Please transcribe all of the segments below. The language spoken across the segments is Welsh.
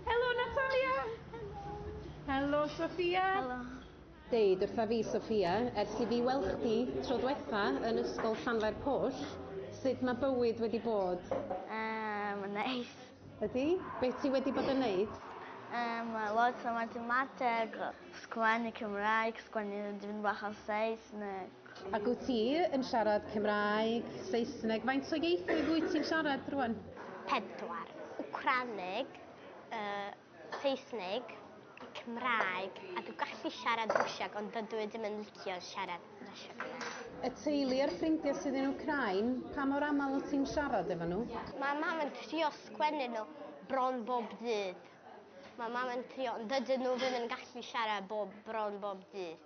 Helo, Natalia! Helo! Helo, Sophia! Helo! Deud wrtha fi, Sophia, ers i fi weld chdi tro dwetha yn ysgol Llanfair Pwll, sut mae bywyd wedi bod? Yym, yn neis. Ydy? Be ti wedi bod yn neud? Yym, lot o mathemateg, sgwennu Cymraeg, sgwennu dipyn bach o Saesneg. Ac wyt ti yn siarad Cymraeg, Saesneg, faint o ieithoedd wyt ti'n siarad rwan? Pedwar, Wcraneg, yy, Saesneg, Cymraeg, a dw gallu siarad Rwsiag ond dydw i ddim yn licio siarad Rwsiag yna. Y teulu a'r ffrindiau sydd yn Wcrain, pa mor aml wyt ti'n siarad efo nhw? Mae mam yn trio sgwennu nhw bron bob dydd. Mae mam yn trio ond dydyn nhw ddim yn gallu siarad bob, bron bob dydd.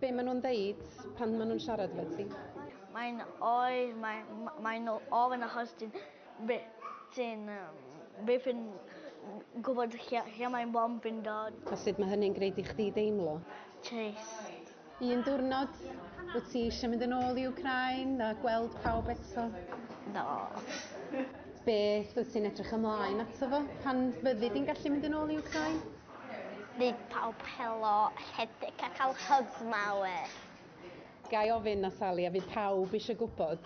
Be maen nhw'n ddeud pan maen nhw'n siarad efo ti? Mae'n oer, mae, mae'n ofyn achos ti'n ti'n byth yn gwybod lle, lle mae'n bom yn dod. A sut mae hynny'n gwneud i chdi deimlo? Trist. Un diwrnod, wyt ti eisiau mynd yn ôl i Ukraine a gweld pawb eto? No. Beth wyt ti'n edrych ymlaen ato fo pan fyddi di'n gallu mynd yn ôl i Ukraine? Bydd pawb helo, rhedeg a cael hyb mawr. Ga i ofyn, Natalie, a fydd pawb eisiau gwybod,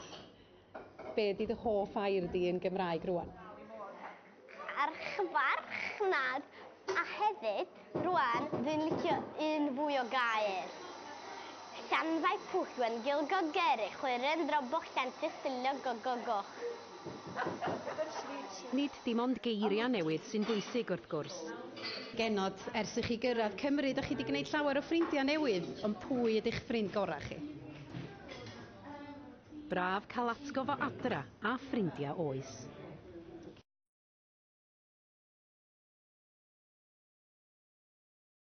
be ydy dy hoff air di yn Gymraeg rŵan? Archfarchnad, a hefyd, rŵan, dwi'n licio un fwy o gair. Llanfaipwllgwengylgogerychwyrendrobochlllantylltylliogogogoch. Nid dim ond geiriau newydd sy'n bwysig, wrth gwrs. Genod, ers i chi gyrraedd Cymru, dych chi 'di gwneud llawer o ffrindiau newydd, ond pwy ydy'ch ffrind gorau chi? Braf cael atgof o adra a ffrindiau oes.